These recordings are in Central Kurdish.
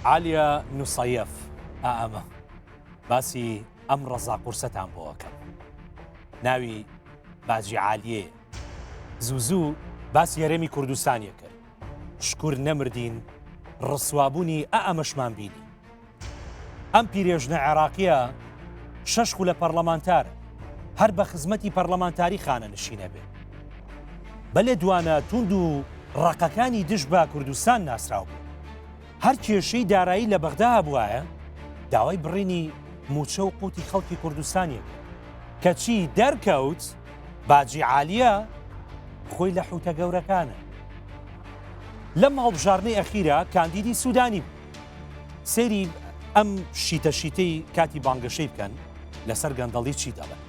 عالیا نوسەیەف ئائەمە باسی ئەم ڕەزا قورسەتان بۆەکەم ناوی باجی عالیێ زوو زوو باسی هەرێمی کوردستانیە کرد شکور نەمردین ڕسوابوونی ئە ئەمەشمان بینی ئەم پیرێژنە عێراقیە شەش خولە پەرلەمانتار هەر بە خزمەتی پەرلەمانتاری خانە نشینە بێ بەلێ دوانە توند و ڕقەکانی دژ بە کوردستان ناسراو بوو هەر کێشەی دارایی لە بەغدا هەبوایە داوای بڕینی موچە و قوتی خەڵکی کوردستانی کەچی دەرکەوت باجی عالیە خۆی لە حوتە گەورەکانە لەم هەڵبژارنەی ئەخیرا کاندیدی سوودانی بوو سەیری ئەم شیتە شیتەی کاتی بانگەشەی بکەن لەسەر گەندەڵی چی دەڵێن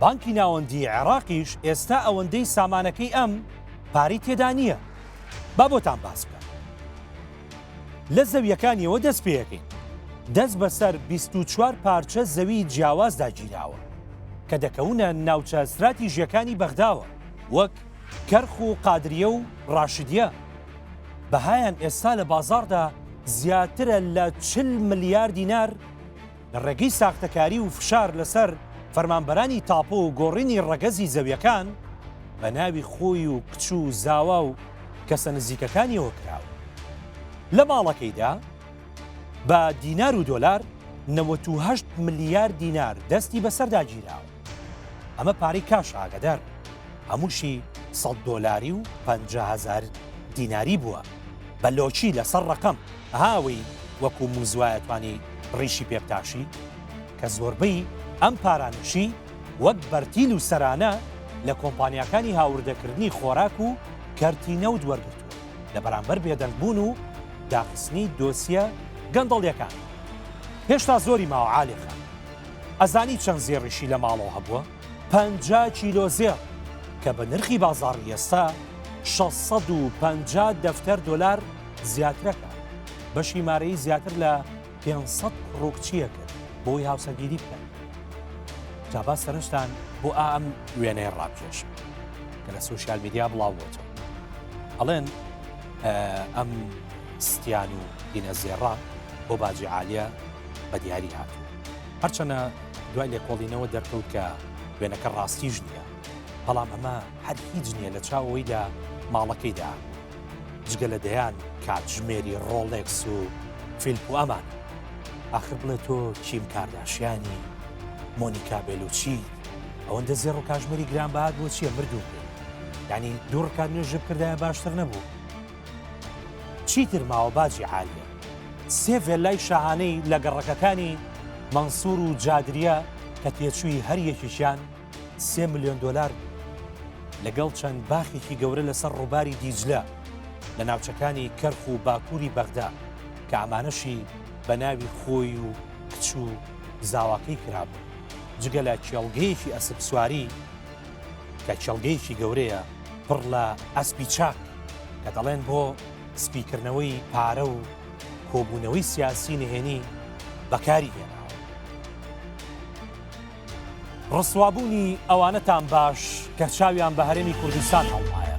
بانکی ناوەندیی عێڕاقیش ئێستا ئەوەندەی سامانەکەی ئەم پارەی تێدا نییە. با بۆتان باس بکەم. لە زەوییەکانیەوە دەست پێەکەین. دەست بەسەر بیست و چوار پارچە زەوی جیاوازدا گیراوە کە دەکەونە ناوچە ستراتیژیەکانی بەغداوە وەک کەرخ و قادریە و ڕاشدیە. بەهایان ئێستا لە بازاڕدا زیاترە لە چل ملیار دینار، لە ڕێگەی ساختەکاری و فشار لەسەر فەرمانبەرانی تاپۆ و گۆڕینی ڕەگەزی زەویەکان بە ناوی خۆی و کچ و زاوا و کەسە نزیکەکانیەوە کراوە لە ماڵەکەیدا بە دینار و دۆلار 98 ملیار دینار دەستی بەسەردا گیراوە ئەمە پارەی کاش ئاگەدار بن هەمووشی سەد دۆلاری و پەنجا هەزار دیناری بووە بە لۆچی لەسەر ڕقم هاوی وەکو موزوایەتوانی ڕیشی پێبتاشی کە زۆربەی ئەم پارانشی وەک بەرتیل و سەرانە لە کۆمپانیاکانی هاوردەکردنی خۆراک و کەرتی نەود وەرگرتووە لە بەرامبەر بێدەنگبوون و داخستنی دۆسیە گەندەڵیەکان هێشتا زۆری ماوە عاالێخان ئەزانی چەند زێڕیشی لە ماڵەوە هەبووە؟ پەنجا کیلۆ زێڕ، کە بە نرخی بازاڕی ئێستا شەش سەد و پەنجا دەفتەر دۆلار زیاترەکە. بەشی مارەیی زیاتر لە پێنج سەد ڕووکچییە کرد بۆی هاوسەرگیری بکەن. جابا سەرنجتان بۆ ئام وێنەیە ڕابکێش کە لە سوسیال میدیا بڵاو بۆتەوە. ئەڵێن ئەم ستیان و دینە زێڕە بۆ باجی عالیە بە دیاری هاتووە هەرچەنە دوای لێکۆڵینەوە دەرکەوت کە وێنەکە ڕاستیش نییە بەڵام ئەمە هەر هیچ نییە لە چاوەوەیدا ماڵەکەیدا جگە لە دەیان کاتژمێری ڕۆڵێکس و فیلپ و ئەمان آخر بڵێ تۆ کیم کارداشیانی مۆنیکا بێلوچی ئەوەندە زێڕ و کاژمێری گرانبات بۆ چییە مردوو ینی دوو ڕکات نوێژ بکردایە باشتر نەبوو چیتر ماوە باجی عالیە. سێ ڤێللای شاهانەی لە گەڕەکەکانی مەنسوور و جادریە کە تێچووی هەر یەکێکیان سێ ملیۆن دۆلار بوو. لەگەڵ چەند باخێکی گەورە لەسەر ڕووباری دیجلە لە ناوچەکانی کەرخ و باکووری بەغدا کە ئەمانەشی بە ناوی خۆی و کچ و زاواکەی کرابوون. جگە لە کێڵگەیەکی ئەسپسواری، کە کێڵگەیەکی گەورەیە پڕ لە ئەسپی چاک کە دەڵێن بۆ سپیکردنەوەی پارە و کۆبوونەوەی سیاسی نهێنی بەکاری هێنا ڕسوابوونی ئەوانەتان باش کە چاویان بە هەرێمی کوردستان هەڵمایە